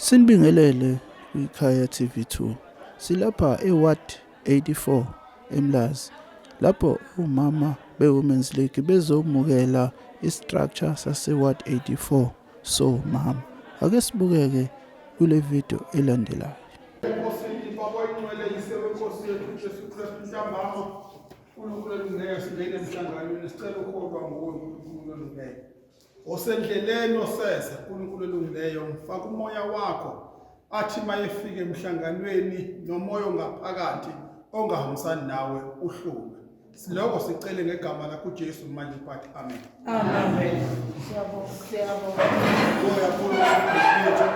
Sinibingelele kwiKhaya TV2. Silapha eWard 84 eMlazi lapho umama beWomen's League bezomukela istructure saseWard 84 so mama. Ake sibukeke kule video elandelayo. uNkulunkulu olungeyo singene emhlanganweni sicela ukholwa nguwe uNkulunkulu olungeyo osendleleni oseza uNkulunkulu olungileyo mfaka umoya wakho athi mayefike emhlanganweni nomoya ongaphakathi ongahambisani nawe uhlume siloko sicele ngegama lakho uJesu manje bathi amen Amen. Siyabonga, siyabonga. Ngibonge kakhulu uSikhulumile.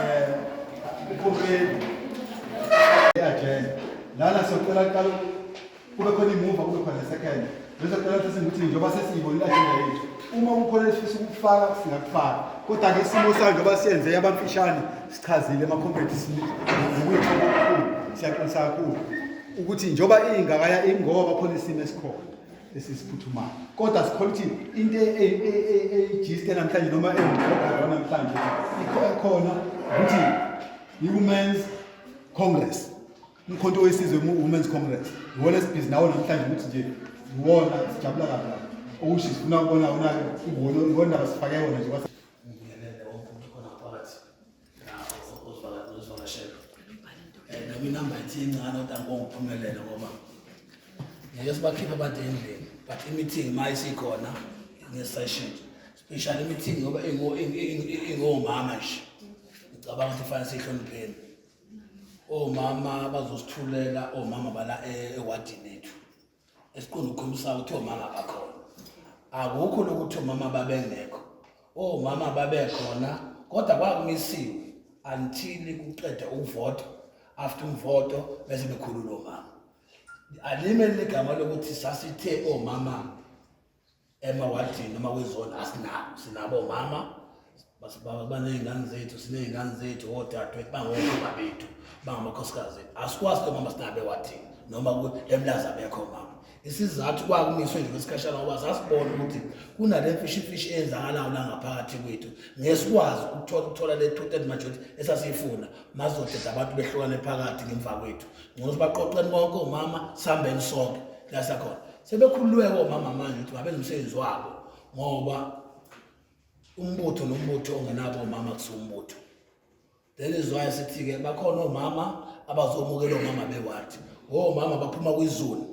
Eh, ukhulumile. Eyajele. Lana siyocela kuqala kube khona imuva kube khona second. Bese kuqala ukuthi singithi njengoba sesiyibona ajenda yethu. Uma kukhona esifisa ukufaka singakufaka. Kodwa ke isimo sayo njengoba siyenze yabamfishane sichazile ema complex ukuyithoba okukhulu. Siyaqinisa kakhulu ukuthi njengoba ingakaya ingoba khona isimo esikhona. esisiphuthumayo kodwa sikhola ukuthi into e- e- e- eyijiste namhlanje noma engikhona namhlanje ikhona ukuthi i-women's congress umkhonto wesizwe women's congress iwona esibhizi nawo namhlanje ukuthi nje iwona sijabula kabi lapho okusho sifuna ukubona wona iwona iwona sifake wona nje sibakhiphe abantu endlini but i-meeting ma isikhona nge-session special i-meeting ngoba ingomama nje ngicabanga ukuthi fanele siyihlonipheni omama bazosithulela omama bala eh, ewadini ethu esiqonda ukukhombisa ukuthi omama bakhona akukho lokuthi omama babengekho omama babekhona kodwa kwakumisiwe until kuqeda ukuvota after umvoto bese bekhulula omama alimele igama lokuthi sasithe omama emawadini noma kwizona asinabo sinabo omama baney'ngane zethu siney'ngane zethu odadewethu bangomama bethu bangamakhosikazi ethu asikwazi ke mama sinabo ewadini noma emlaza bekho mama isizathu kwakumiswe nje kwesikhashana ngoba sasibona ukuthi kunale mfishifishi eyenzakalayo la ngaphakathi kwethu ngesikwazi ukuthola le two-third majority esasiyifuna mazodeda abantu behlukane phakathi ngemva kwethu ngcono ukuthi baqoqeni konke omama sihambeni sonke la sakhona Sebekhululeke omama manje ukuthi ngabenza umsebenzi wabo ngoba umbutho nombutho ongenabo omama kusumbutho that is why sithi-ke bakhona omama abazomukela omama bewathi omama baphuma kwizulu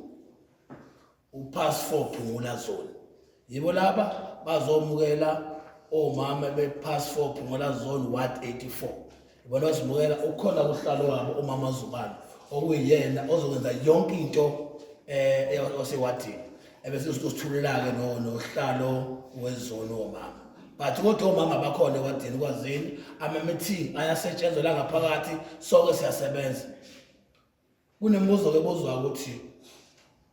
upass four phungula zone Yibo laba bazomukela omama be-pass four phungola zone ward 84 ibona bazimukela ukhona kuhlalo wabo umama zubane okuyiyena ozokwenza yonke into um osewadini ebese sithulula-ke nohlalo wezone womama but kodwa omama bakhona ewadini kwazini ama-meeting ayasetshenzela ngaphakathi soke siyasebenza Kunembuzo-ke ebuzwa ukuthi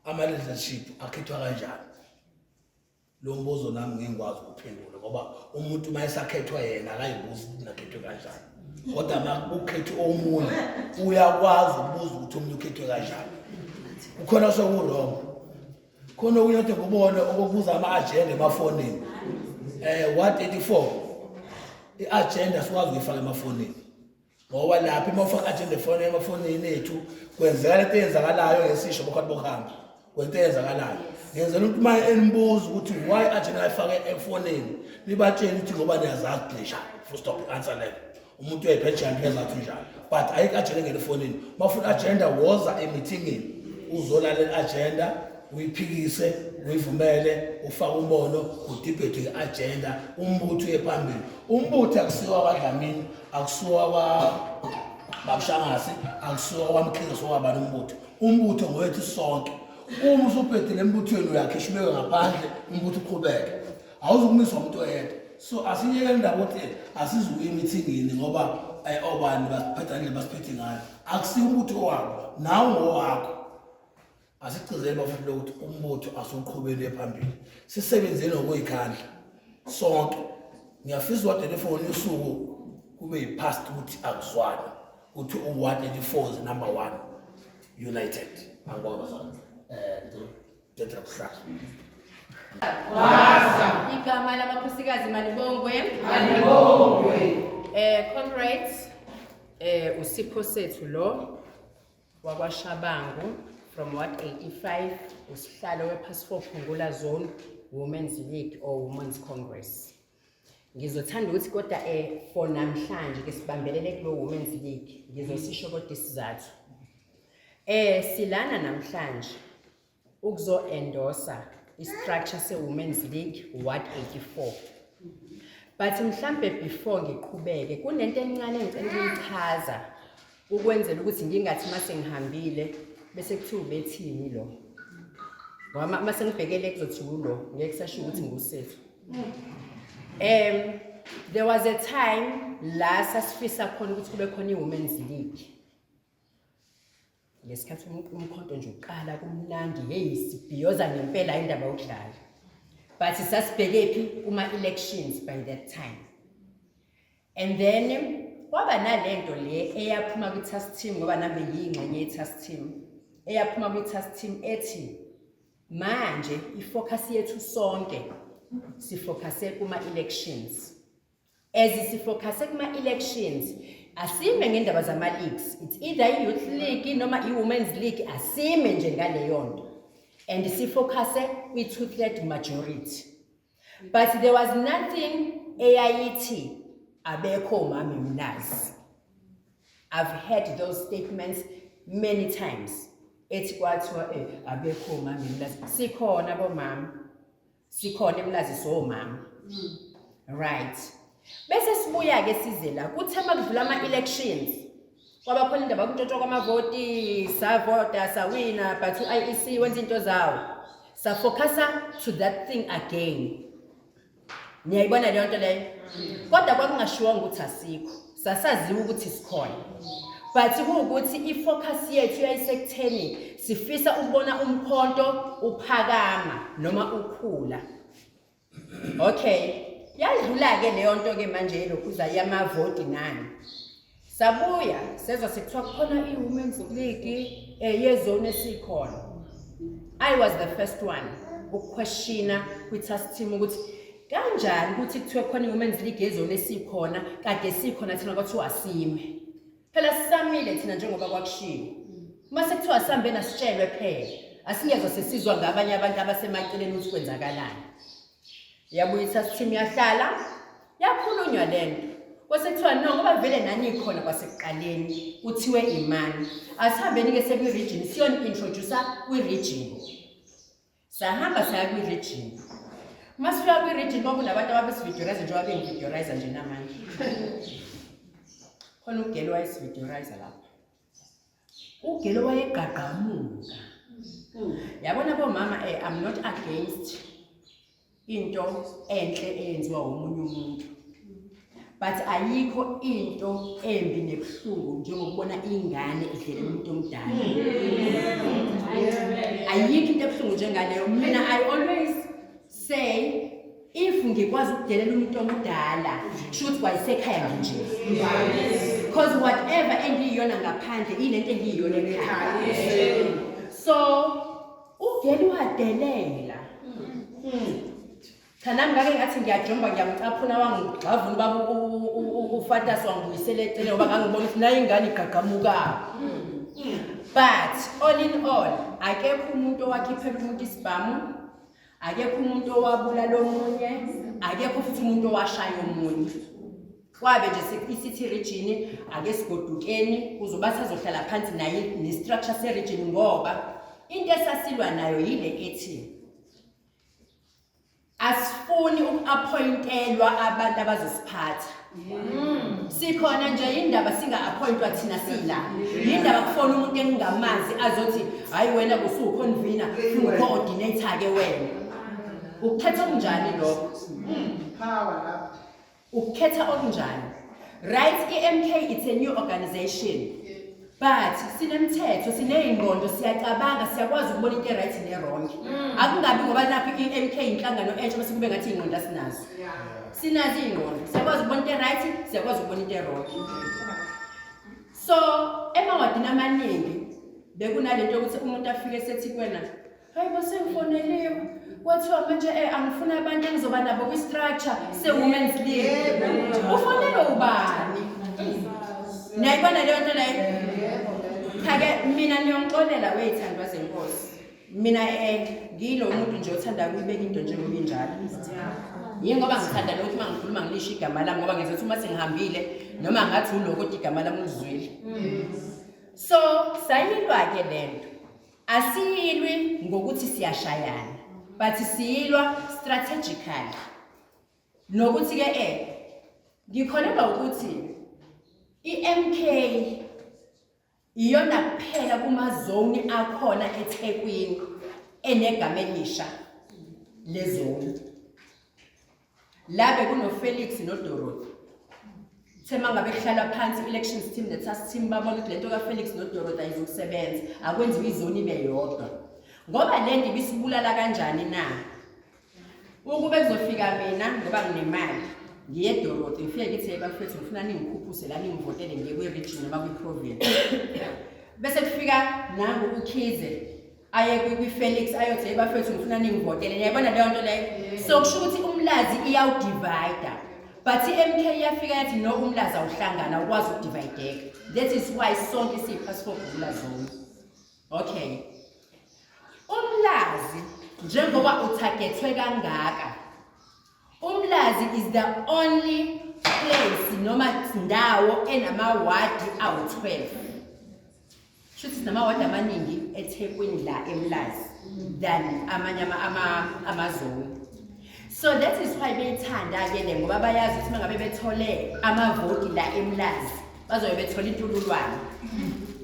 ama-leadership akhethwa kanjani lo mbuzo nami ngengikwazi ukuphendula ngoba umuntu uma esakhethwa yena akayibuzi ukuthi nakhethwe kanjani kodwa uma ukhethe omunye uyakwazi ukubuza ukuthi omunye ukhethwe kanjani kukhona soku-wrong khona okunye kade kubone okubuza ama-agenda emafonini um eh, 134 i-agenda sikwazi ukuyifaka emafonini ngoba lapho uma ufaka agenda efone emafonini ethu kwenzeka lento eyenzakalayo ngesisho bokhati bokuhamba kwento eyenzakalayo ngenzela umuntu uma enibuza ukuthi why agenda ayifake efonini nibatshele ukuthi ngoba niyazazi glisha full stop answer leyo umuntu uyayiphejana uyazathi njalo but ayikho agenda engena efonini uma ufuna agenda woza emithingini uzolalela agenda uyiphikise uyivumele ufake umbono udibhethwe i-agenda umbutho uye phambili umbutho akusiwa kwadlamini akusuwa kwa babushangase akusuwa kwamkhize sowaba nombutho umbutho ngowethu sonke uma usubhedile embuthweni uyakhishwa ubeke ngaphandle umbutho uqhubeke awuzukumiswa umuntu oyedwa so asiyeke indaba ukuthi asizukuya emithingini ngoba eh, obani basiphetha ndlela basiphethe ngayo akusiyo umbutho wabo nawe ngowakho Asigcizele bafana lokuthi umbutho asuqhubele phambili. Sisebenzeni ngokuyikhandla sonke. Ngiyafisa uward 84 usuku kube yipast ukuthi akuzwana ukuthi uward 84 is number 1 united. Angibonga bazalwane. Eh, ngicela ukuhlala. Waza. Igama lamakhosikazi malibongwe. Malibongwe. Eh, comrades, eh usipho sethu lo wakwashabangu from ward 85 usihlalo wephasifo phungula zone women's league or women's congress ngizothanda ukuthi kodwa um eh, for namhlanje ke sibambelele kulo women's league ngizosisho kodwa isizathu um silana namhlanje ukuzo-endosa i-structure se-women's league ward 84 but mhlambe before ngiqhubeke kunento encane engicela ukuyichaza ukwenzela ukuthi ngingathi uma sengihambile bese kuthiwa ubethini lo wama uma sengibhekele kuzothi wulo ngeke kusasho ukuthi ngusethu um there was a time la sasifisa khona ukuthi kube khona i-women's league ngesikhathi umkhonto nje uqala kumnandi heyi sibhiyoza ngempela indaba yokudlala but sasibheke phi kuma-elections by that time and then kwaba nalento le eyaphuma kwi-task team ngoba nami ngiyingxenye ye-task team eyaphuma kwi-task team ethi manje ifocus yethu sonke sifocuse kuma-elections as sifocusse kuma-elections asime ngendaba zama-leagues it's either i-youth league noma i-women's league asime nje ngaleyo nto and sifocusse kwi-two-third majority but there was nothing eyayithi abekho umami mnazi i've heard those statements many times ethi kwathiwa eh, abekho umami mnazi sikhona bomama sikhona emlazi so mama mm. right bese sibuya ke size la kuthe makudlula ama elections kwaba khona indaba kuntotshwa kwamavoti savota sawina but uIEC wenza into zawo sa focusa to that thing again niyayibona leyo nto leyo mm. kodwa kwakungashiwonga ukuthi asikho sasaziwa ukuthi sikhona but kuwukuthi i-focus yethu yayisekutheni sifisa ukubona umkhonto uphakama noma ukhula okay yadlula-ke leyo nto-ke manje yelokhuza yamavoti nani sabuya sezwa sekuthiwa kukhona i-women's league um yezone esikhona i was the first one ukuquestiona kwi-task team ukuthi Kanjani ukuthi kuthiwe khona i-women's league yezona esikhona kade sikhona thina kwathiwa asime phela sisamile thina njengoba kwakushiwo uma sekuthiwa sihambe nasitshelwe phela asingezwa sesizwa ngabanye abantu abasemaceleni ukuthi kwenzakalani yabuyisa sithimu yahlala yakhulunywa le nto kwasekuthiwa no ngoba vele nanikhona kwasekuqaleni kuthiwe imani asihambeni-ke sekwi-region siyoni-introducer kwi-region Sahamba saya kwi-region. Uma sifika kwi-region kwakunabantu ababesividiorize njengoba bengividiorize nje namanje. Khona ugelo wayesividiorize lapho. Ugelo wayegqagqamuka. Yabona bomama eh I'm not against into enhle eyenziwa umunye umuntu but ayikho into embi nebuhlungu njengokubona ingane idlela umuntu omdala ayikho into ebuhlungu njengaleyo mina i always say if ngikwazi ukudelela umuntu omdala shuthi kwayisekhaya nje because whatever engiyiyona ngaphandle ilento engiyiyona ekhaya so Uvele uhadelela. Hmm. Cha nami ngake ngathi ngiyajomba ngiyamcaphuna wangigxavuna baba ufatas wangibuyisela eceleni ngoba ngangibona ukuthi nayo ingane igqagqamuka. But all in all akekho umuntu owakhiphela umuntu isibhamu akekho umuntu owabulala omunye akekho futhi umuntu owashaya omunye. kwabe nje sikwi-city region ake sigodukeni kuzoba sazohlala phansi naye ne-structure se-region ngoba into esasilwa nayo yile ethi asifuni uku-appointelwa abantu abazosiphatha mm. sikhona nje yindaba singa-appointwa thina sila yindaba kufona umuntu engingamazi azothi hhayi wena kusuwukhonvina ungu-coordinator-ke wena ukuthatha okunjani lokho mm. ukukhetha okunjani right i-mk it's a new organization but sinemthetho sineyingqondo siyacabanga siyakwazi ukubona into e-right ne-wrong mm. akungabi ngoba nakho i-mk inhlangano entsha bese kube ngathi iy'ngqondo asinazo sinazo iy'ngqondo siyakwazi ukubona into e-right siyakwazi ukubona into e-wrong so emawadini amaningi bekunale nto yokuthi umuntu afike sethi kwena hayi basengifoneliwe kwathiwa manje um angifuna abantu engizoba nabo kwi-structure se-women's league ufonelwe ubani nayibona leyo nto leyo cha-ke mina niyongixolela weyithandwa zenkosi mina um ngiyilo muntu nje othanda kuyibeka into njengoba injalo yini ngoba ngithanda lokuthi uma ngikhuluma ngilisho igama lami ngoba ngenza ukuthi uma sengihambile noma ngathi uloko kodwa igama lami ulizwile so sayilwa-ke le nto Asiyilwi ngokuthi siyashayana but siyilwa strategically. Nokuthi ke eh ngikholelwa ukuthi iMK iyona kuphela kuma zone akhona eThekwini enegama elisha lezone. la bekunofelix nodorothy kuthe uma ngabe kuhlalwa phansi i-elections team ne-task team babona ukuthi le nto kafelix nodorothy ayizokusebenza akwenziwa izoni ibe yodwa ngoba le nto ibisibulala kanjani na ukube kuzofika mina ngoba nginemali ngiye edorothy ngifike ngithi hey bafethu ngifuna ningikhuphuse la ningivotele ngiye kwi-region noma kwi-province bese kufika nangu ukhize aye kwi- kwi-felix ayothi hey bafethu ngifuna ningivotele niyayibona leyo nto leyo so kusho ukuthi umlazi iyawudivayida but i-mk iyafika yathi no umlazi awuhlangana ukwazi ukudivayideka that is why sonke siyiphasipogula zone okay umlazi njengoba uthagethwe kangaka Umlazi is the only place noma ndawo enamawadi awu-12 shuthi sinamawadi amaningi ethekwini la emlazi than amanye amazulu so that is why beyithanda-ke le ngoba bayazi ukuthi uma ngabe bethole amavoti la emlazi bazobe bethola intululwane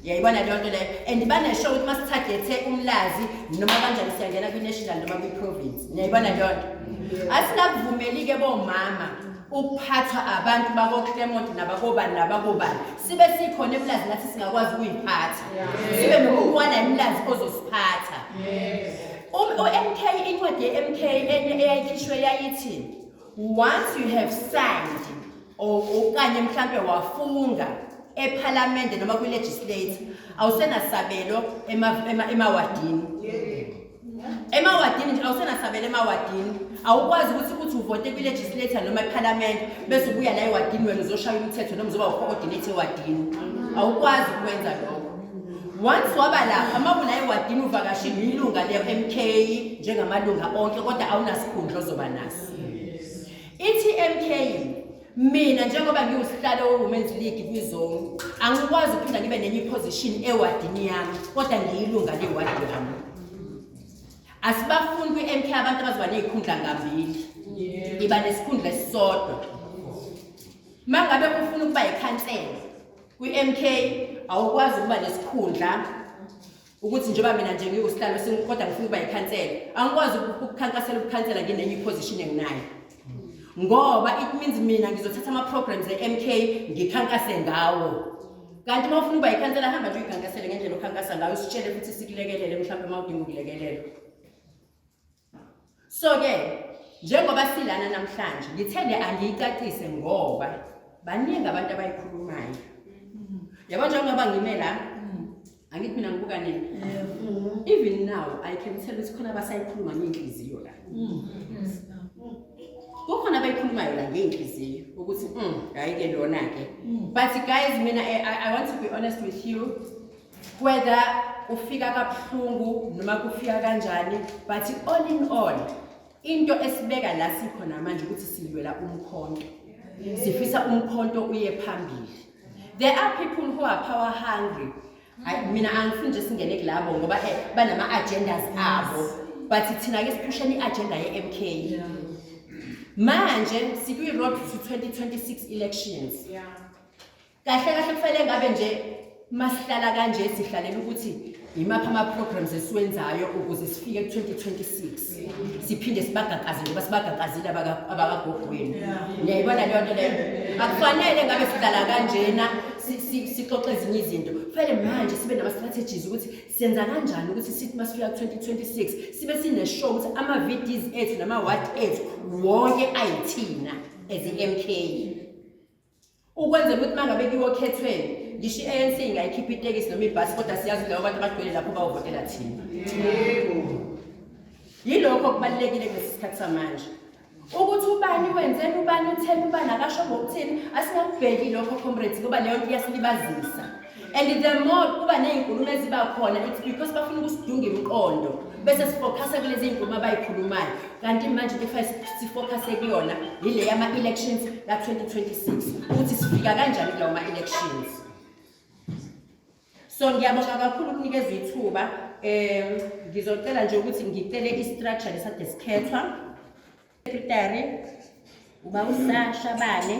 yayibona leyo nto leyo and banesho ukuthi uma sithagethe umlazi noma kanjani siyangena kwi-national noma kwi-province niyayibona leyo nto asinakuvumeli-ke bomama ukuphathwa abantu bakoclemont nabakobani nabakobani sibe sikhona emlazi nathi singakwazi ukuyiphatha sibe nokuwana imlazi ozosiphatha u-mk incwadi ye-mk eyayikhishwe yayithini once you have signed or okanye mhlampe wafunga ephalamende noma kwilegislate awusenasabelo emawadini emawadini nje awusenasabelo emawadini awukwazi ukuthi kuthi uvote kwilegislator noma ephalamende bese ubuya la ewadini wena uzoshaya umthetho noma uzoba ucoordinate ewadini awukwazi ukwenza lokho Once waba lapha mawulaye wadini uvakashile ilunga le-MK njengamalunga onke kodwa awunasikhundla ozoba naso. Ithi MK mina njengoba ngiwusihlalo weWomen's League kwizone angikwazi ukuphinda ngibe nenye iposition ewadini yami kodwa ngiyilunga lewadi yami. Asibafuni kwi-MK abantu abazoba nezikhundla ngambili. Iba nesikhundla esisodwa. Mangabe ufuna ukuba yikhansela kwi-MK awukwazi ukuba nesikhundla ukuthi njengoba mina nje ngiwusihlalo kodwa ngifuna ukuba yikhansela angikwazi ukukhankasela ukukhansela nginenye iposition enginayo ngoba it means mina ngizothatha ama-programs e-mk ngikhankase ngawo kanti uma ufuna ukuba yikhansela hamba nje uyikhankasele ngendlela okhankasa ngayo usitshele futhi sikulekelele mhlawumbe uma udinga ukulekelelwa So-ke njengoba silana namhlanje ngithende angiyicacise ngoba baningi abantu abayikhulumayo yabo njengoba ngime la angithi mina ngibuka nini even now i can tell ukuthi khona abasayikhuluma ngey'nhliziyo la kukhona abayikhulumayo la ngey'nhliziyo ukuthi hhayi-ke lona-ke but guys mina I, I, i want to be honest with you whether kufika kabuhlungu noma kufika kanjani but all in all into esibeka la sikhona manje ukuthi silwela umkhonto sifisa umkhonto uye phambili there are people who are power hungry hayi mina angifuni nje singene kulabo ngoba eh, banama-agendas abo but thina-ke siphushela i-agenda ye-m k manje sikwi-road to 2026 elections yeah. kahle kahle kufanele ngabe nje masihlala kanje sihlalela ukuthi yimaphi ama-programs esiwenzayo ukuze sifike ku-2026 siphinde sibagaqaze njengoba sibagaqazile abakagogweni niyayibona leyo nto leyo akufanele ngabe sihlala kanjena sixoxe ezinye izinto kufanele manje sibe nama-strategies ukuthi senza kanjani ukuthi sithi uma sifika ku-2026 sibe sineshow ukuthi ama-vds ethu nama-wad ethu wonke ayithina as i-m k ukwenzela ukuthi mangabe kuyokhethweni ngisho i-anc ingayikhipha itekisi noma ibhasi kodwa siyazi labo bantu abagcwele lapho bawuvotela thina yilokho kubalulekile kulesi sikhathi samanje ukuthi ubani wenzela ubani utheni ubani akasho ngokuthini asingakubheki lokho comrades ngoba leyo nto iyasilibazisa and the more kuba ney'nkulumo eziba khona it's because bafuna ukusidunga imiqondo bese sifokhase kulezi y'nkulumo abay'khulumayo kanti manje into kufanele sifokhase kuyona yile yama-elections ka-2026 ukuthi sifika kanjani kulawo ma-elections so ngiyabonga kakhulu ukunikezwa ithuba um ngizocela nje ukuthi ngicele i-structure lesade sikhethwa secretary uba usasha bane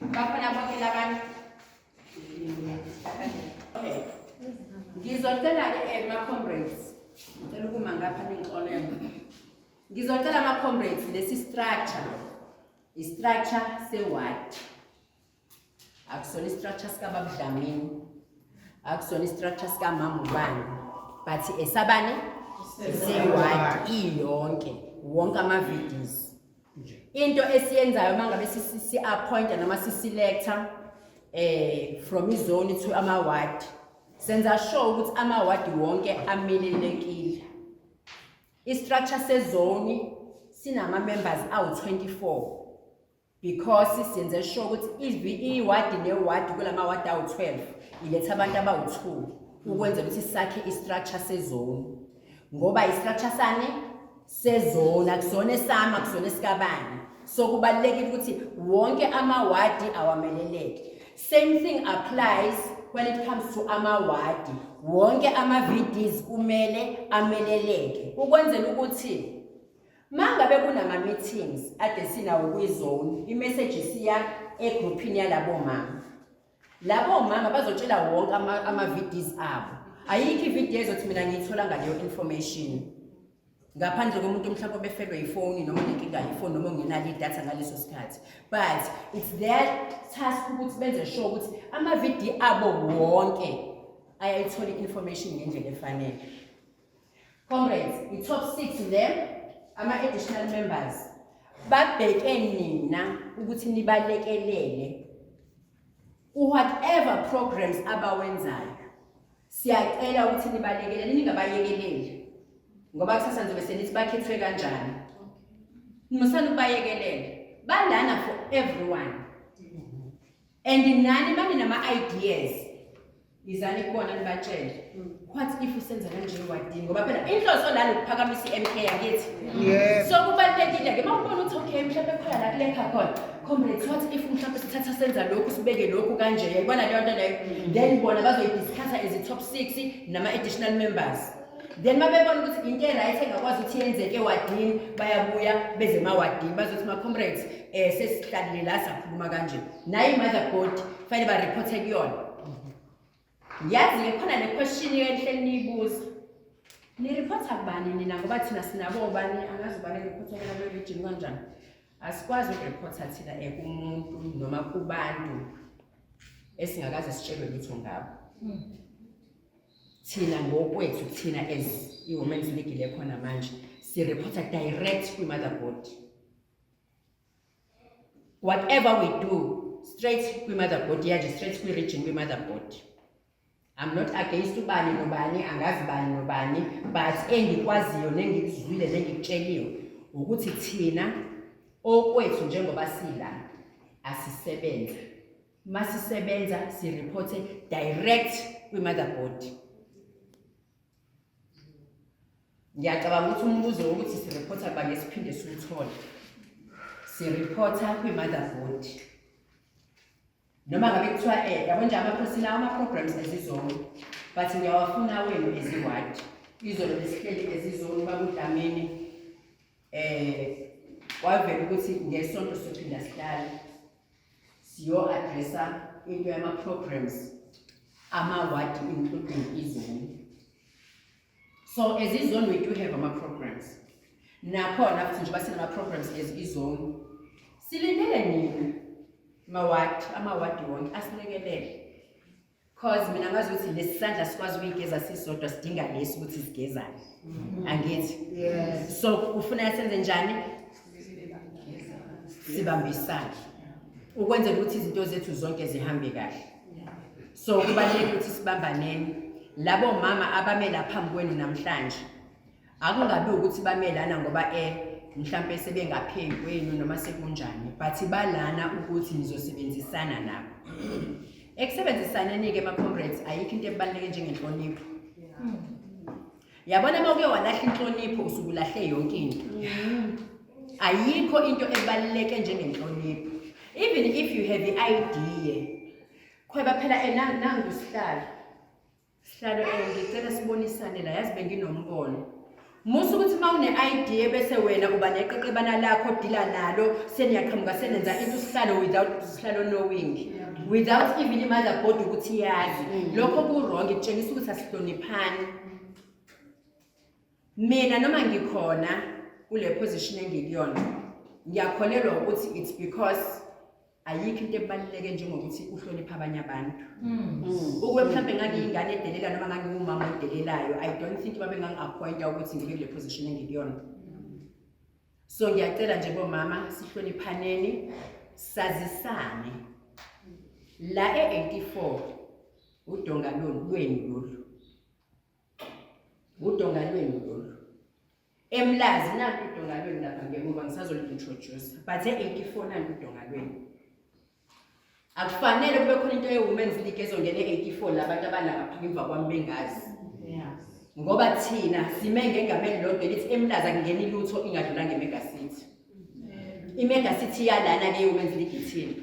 Bakhona bonke labantu. Okay. Ngizocela ke eh, ma comrades. Ngicela ukuma ngapha ningixolele. Ngizocela ma comrades lesi structure. I structure se ward. Akusona structure sika babudlamini. Akusona structure sika mama ubani. But esabani? Se ward iyonke. Wonke ama videos. into esiyenzayo uma ngabe si-appointa noma si-selecta um eh, from izone to ama-ward senza sure ukuthi ama-ward wonke amelelekile i-structure sezoni sinama-members awu-24 because senze sure ukuthi iwadi newadi kula mawadi awu-12 iletha abantu abawu-2 ukwenzela ukuthi sakhe i-structure sezoni ngoba istructure sane sezona kusona esami akusona esikabani so kubalulekile ukuthi wonke amawadi awameleleke same thing applies when it comes to amawadi wonke ama-vds kumele ameleleke ukwenzela ukuthi mangabe kunama-meetings ade sinawo kwizone imeseji siya egruphini yalabo mama Labo mama bazotshela wonke ama, ama VDs abo. Ayikho ivideo ezothi mina ngiyithola ngaleyo information. Ngaphandle komuntu mhlawumbe obefelwe ifoni noma nenkinga yefoni noma ngenalo idatha ngaleso sikhathi. But it's their task ukuthi benze sure ukuthi ama VD abo wonke ayayithola information ngendlela efanele. Comrades, i top 6 le ama additional members babheke nina ukuthi nibalekelele u whatever programs abawenzayo. Siyacela ukuthi nibalekelele ningabayekeleli. Ngoba kusasa nje bese nithi bakhethwe kanjani. Nimusana ukubayekelela. Balana for everyone. and nani mani nama ideas izani kubona nibatshele mm. what if usenza kanje wadini ngoba phela inhloso lana ukuphakamisa iMK yakithi so kubalekile ke mawubona ukuthi okay mhlawumbe khona la kulekha khona comrades what if mhlawumbe sithatha senza lokhu sibeke lokhu kanje yayibona leyo nto leyo mm. then bona bazoyidiscassa as i-top six nama-additional members then uma bebona ukuthi into e-right engakwazi ukuthi yenzeke ewadini bayabuya beze emawadini bazothi ma-comrades um eh, sesihlalile la sakhuluma kanje naye i-mother board fanele barephothe kuyona yazi-ke khona le question enhleni niyibuza nirephotha kubani nina ngoba thina sinabo obani angazi ubani erephothelana kwerijini kanjani asikwazi ukurephotha thina um kumuntu noma kubantu esingakaze sitshelwe lutho ngabo hmm. thina ngokwethu thina as i-women's league le khona manje sireporta direct kwi-mother body whatever we do straight kwi-mother body yanje straight kwi-region kwi-mother body I'm not against ubani nobani angazi bani nobani but engikwaziyo nengikuzwile nengikutsheliwe ukuthi thina okwethu njengoba sila asisebenza masisebenza sireporte direct kwi-motherboard ngiyacabanga ukuthi umbuzo wokuthi sireporta banye siphinde siwuthole sireporta kwi-motherboard noma ngabe kuthiwa um yabo nje amakhosi lawo ama-programs ezizolo but ngiyawafuna wenu eziwadi izolo besihleli ezizolo bakudlamini um kwavela ukuthi ngesonto sophinda sihlale siyo-adressa into yama-programs amawadi including izoni so as izoni we do have ama-programs nakhona futhi njengoba sinama-programs as izoni silindele nina mawadi amawadi wonke asilekelele cause mina ngazi ukuthi lesi sandla sikwazi ukuyigeza sisodwa sidinga lesi ukuthi sigezane mm-hmm. angithi so ufuna senze njani sibambe isandla ukwenzela ukuthi izinto zethu zonke zihambe kahle so kubalulekile ukuthi sibambaneni labo mama abamela phambi kwenu namhlanje akungabi ukuthi bamelana ngoba eh mhlampe sebengaphezu kwenu noma sekunjani but balana ukuthi nizosebenzisana nabo ekusebenzisaneni-ke ama-comrades ayikho into ebaluleke njengenhlonipho yabona uma uke walahla inhlonipho usuke ulahle yonke into ayikho into ebaluleke njengenhlonipho even if you have i-idea khweba phela eh, nangusihlalo Sihlalo eh ngicela sibonisane la yazi benginombono. Musa ukuthi uma une-ID bese wena uba neqeqebana lakho dila nalo seniyaqhamuka senenza into sihlalo without sihlalo knowing without even imother body ukuthi yazi mm. lokho ku-wrong kutshengisa ukuthi asihloniphani Mina noma ngikhona kule position engikuyona ngiyakholelwa ukuthi it's because ayikho into ebaluleke njengokuthi uhloniphe abanye abantu hmm. ukube mhlawumbe ngangiyingane edelela noma ngangiwumama odelelayo i don't think babe ngangi-appointa ukuthi ngibe kule position engikuyona so ngiyacela nje bomama sihloniphaneni sazisane la e-84 udongaloni lweni lolu Udongalweni lolu. Emlazi nakho udongalweni lapha ngemuva ngisazoli-introduce. Bathe ekifonani udongalweni. Akufanele kube khona into ye-women's league ezongena e-84 labantu abalapha ngemva kwami bengazi. Ngoba thina sime ngengameni lodwa elithi emlaza kungena ilutho ingadlula ngemega city. Imega city yalana ke women's league ithini.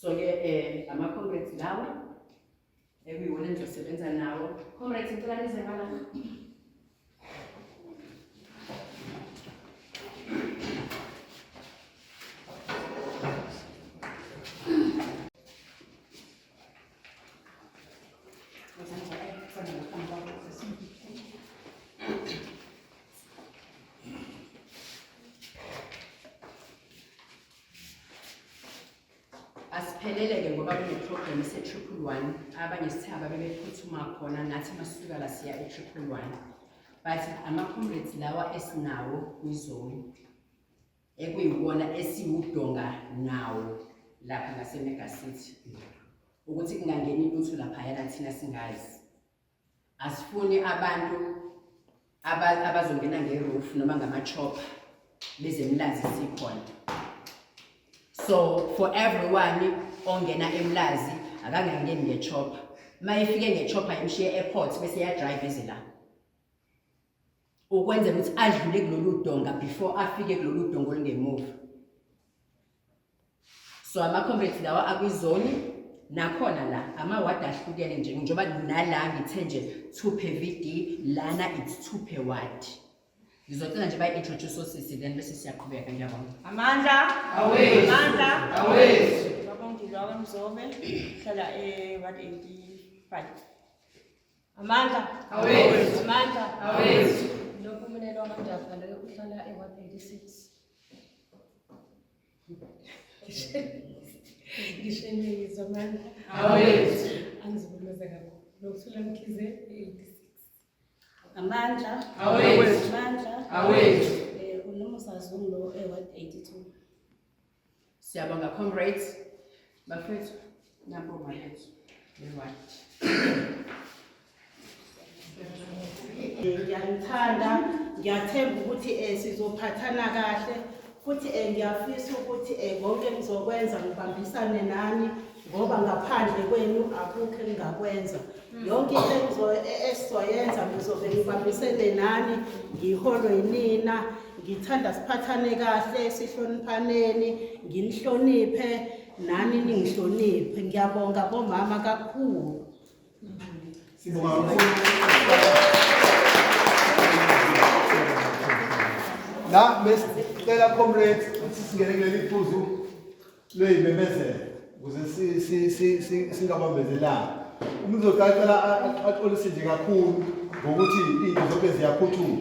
so ke um ama-comrades lawa ekuyiwona engizosebenza nawo comrades ngicela nize ngalapha asiphelele-ke ngoba kuneprogram ese-triple one abanye sithaba bebephuthuma khona nathi masisuka la siya e-triple one but ama-comrades lawa esinawo kwizoni ekuyiwona esiwudonga nawo lapha ngasemega city ukuthi kungangeni lutho laphayana thina singazi Asifuni abantu abazongena ngeroof noma ngamachopper bezemlazi sikhona so for everyone ongena emlazi akangangeni ngechopper uma efike ngechopper imshiye airport bese yadrive eze la ukwenzela ukuthi adlule kulolu donga before afike kulolu donga olungemuva so ama-comrades lawa akwizoni nakhona la amawadi ahlukene nje njengoba nala ngithe nje two per v d lana it's two per ward ngizocela nje bayi-introduce osisi then bese siyaqhubeka ngiyabona amandla amandla awethu babongilwa kwamzobe hlala e-ward 85 Amandla awethu. Amandla awethu. Lo mpumelelo wamajaha loyo uhlala e-186. Ngisheneyizwa amandla awethu. Angiziboneza kakhulu. Lokuthula mkhize e-86. Amandla awethu. Amandla awethu. Eh unomusa zungu lo e-182. Siyabonga comrades. Bafethu, nampo malethu. Right. Ngiyanithanda, ngiyathemba ukuthi eh sizophathana kahle futhi eh ngiyafisa ukuthi eh konke ngizokwenza ngibambisane nani ngoba ngaphandle kwenu akukho engingakwenza yonke into engizoyenza ngizobe ngibambisene nani ngiholwe yinina ngithanda siphathane kahle sihloniphaneni nginihloniphe nani ningihloniphe ngiyabonga bomama kakhulu sibonga la besicela comrades sisingene kuleli phuzu lweyimemezelo ukuze singabambezelani umuntu uzocacela axolise nje kakhulu ngokuthi into zonke ziyaphuthuma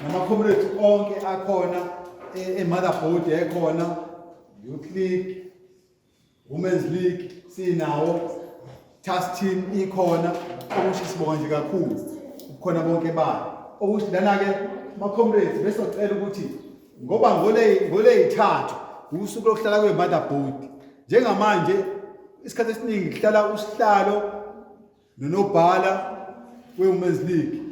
nama-comrades onke akhona e-, e-motherboard ekhona youth league women's league sinawo task team ikhona okusho sibonga nje kakhulu kukhona bonke bani okusho lana ke ma comrades bese ucela ukuthi ngoba ngole ngole ithathu usuku lokuhlala kwe mother board njengamanje isikhathi esiningi kuhlala usihlalo nonobhala we women's league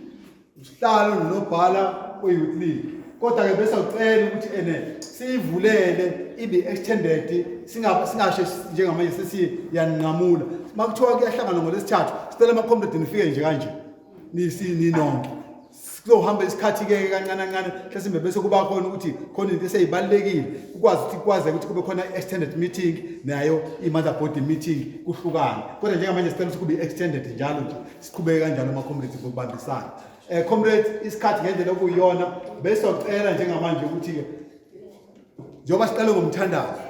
usihlalo nonobhala we-youth league kodwa-ke bese ucela ukuthi ene siyivulele ibe extended singashe njengamanje sesiyaninqamula uma kuthiwa kuyahlangana ngolesithathu sicela amakhomredi nifike nje kanje ninonke kuzohamba isikhathi ke kancane kancane mhlasimbe bese kuba khona ukuthi khona into eseyibalekile ukwazi ukuthi kwaze ukuthi kube khona extended meeting nayo i mother body meeting kuhlukana kodwa njengamanje sicela ukuthi kube extended njalo nje siqhubeke kanjalo ama-comrades ngokubambisana um comrades isikhathi ngendlela okuyiyona besizocela njengamanje ukuthi-ke njengoba siqale ngomthandazo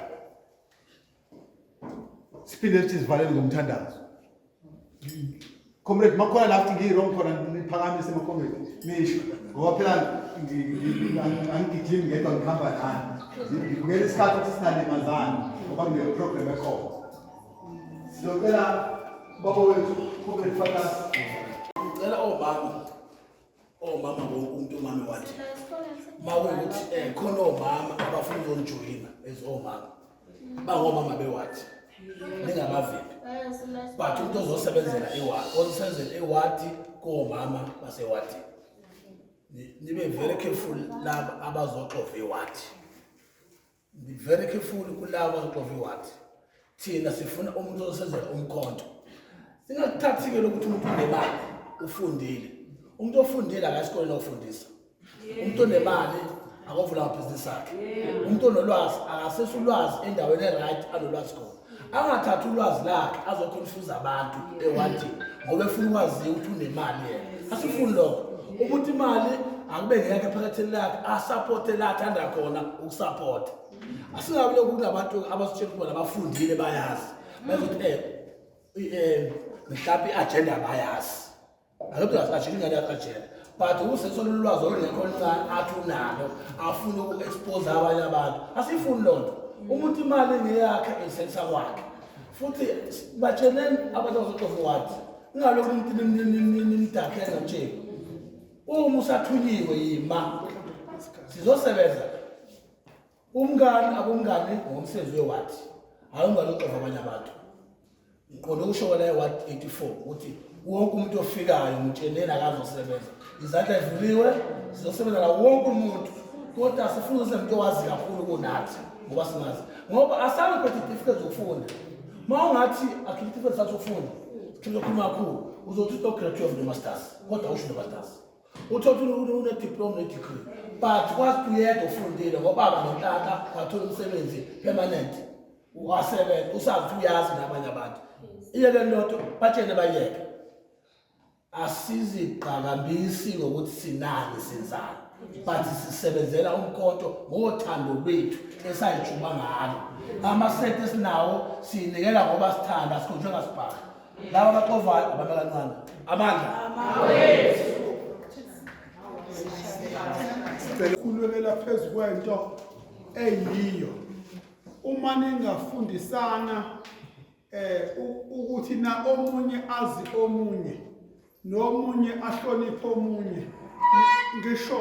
siphinde sithi sivalele ngomthandazo comrade makhona la futhi ngiyi-wrong khona niphakamise macomrade nisho ngoba phela angigijimi ngedwa ngihamba nani ngibukela isikhathi ukuthi sinalimazani ngoba ngineprogram ekhona Siyocela baba wethu kube lifakazi. Ngicela omama. Omama wonke umuntu umama wathi. Mawukuthi eh khona omama abafuna ukuzonjoyina as omama. Bangomama bewathi. Ningabavimbi. But umuntu ozosebenzela iwadi, ozosebenzela iwadi komama basewadi. Nibe very careful laba abazoxova iwadi. Ndi very careful kulawa qovi wathi thina sifuna umuntu osenzela umkhonto. Singakuthathi ke lokuthi umuntu unemali ufundile. Umuntu ofundile akasikole nofundisa. Umuntu onemali akavula business yakhe. Umuntu onolwazi akasesa ulwazi endaweni e right alolwazi khona. angathathi ulwazi lakhe azoconfuse abantu ewanti ngoba efuna ukwaziwa ukuthi unemali yena asifuni lokho ukuthi imali akube ngeyakhe phakathini lakhe asapothe la athanda khona ukusapotha asingabi lokhu kunabantu abasitshela ukuba nabafundile bayazi bazothi um mhlawumbe i-ajenda bayazi Akekho akashilo ingane yakajela. But usesona ulwazi olungekho oluncane athi unalo afuna uku-expose abanye abantu. Asifuni loo nto. Umuntu imali ngeyakhe eyisensa kwakhe. Futhi batsheleni abantu abazoxova wathi ngalokhu umuntu nimdakhe ngatsheni. Uma usathunyiwe yima sizosebenza Umngani akumngani ngomsebenzi weward. Hayi ungalo xova abanye abantu. Ngiqonde ukusho kwala ward 84 ukuthi wonke umuntu ofikayo ngitsheneni akazosebenza. Izandla evuliwe sizosebenza la wonke umuntu. Kodwa sifuna umuntu owazi kakhulu kunathi ngoba singazi. Ngoba asana phethe isitifiketi zokufunda. Mawungathi akhiphe isitifiketi sakho sokufunda. Sikhuluma kakhulu. Uzothi uto graduate of the masters. Kodwa usho the masters. uthola unediploma nedegree but kwazi uyedwa ufundile ngobaba nontaka wathola umsebenzi permanent wasebenza usazi uyazi nabanye abantu iyeke lodwa batshene bayeke asiziqhakambisi ngokuthi sinani senzani but sisebenzela umkhonto ngothando lwethu esayijuma ngalo amasente esinawo siyinikela ngoba sithanda sikhonjwe ngasibhala laba baxovayo abantu abancane amandla khulekela phezu kwento eyiyo uma ningafundisana eh ukuthi na omunye azi omunye nomunye ahloniphe omunye ngisho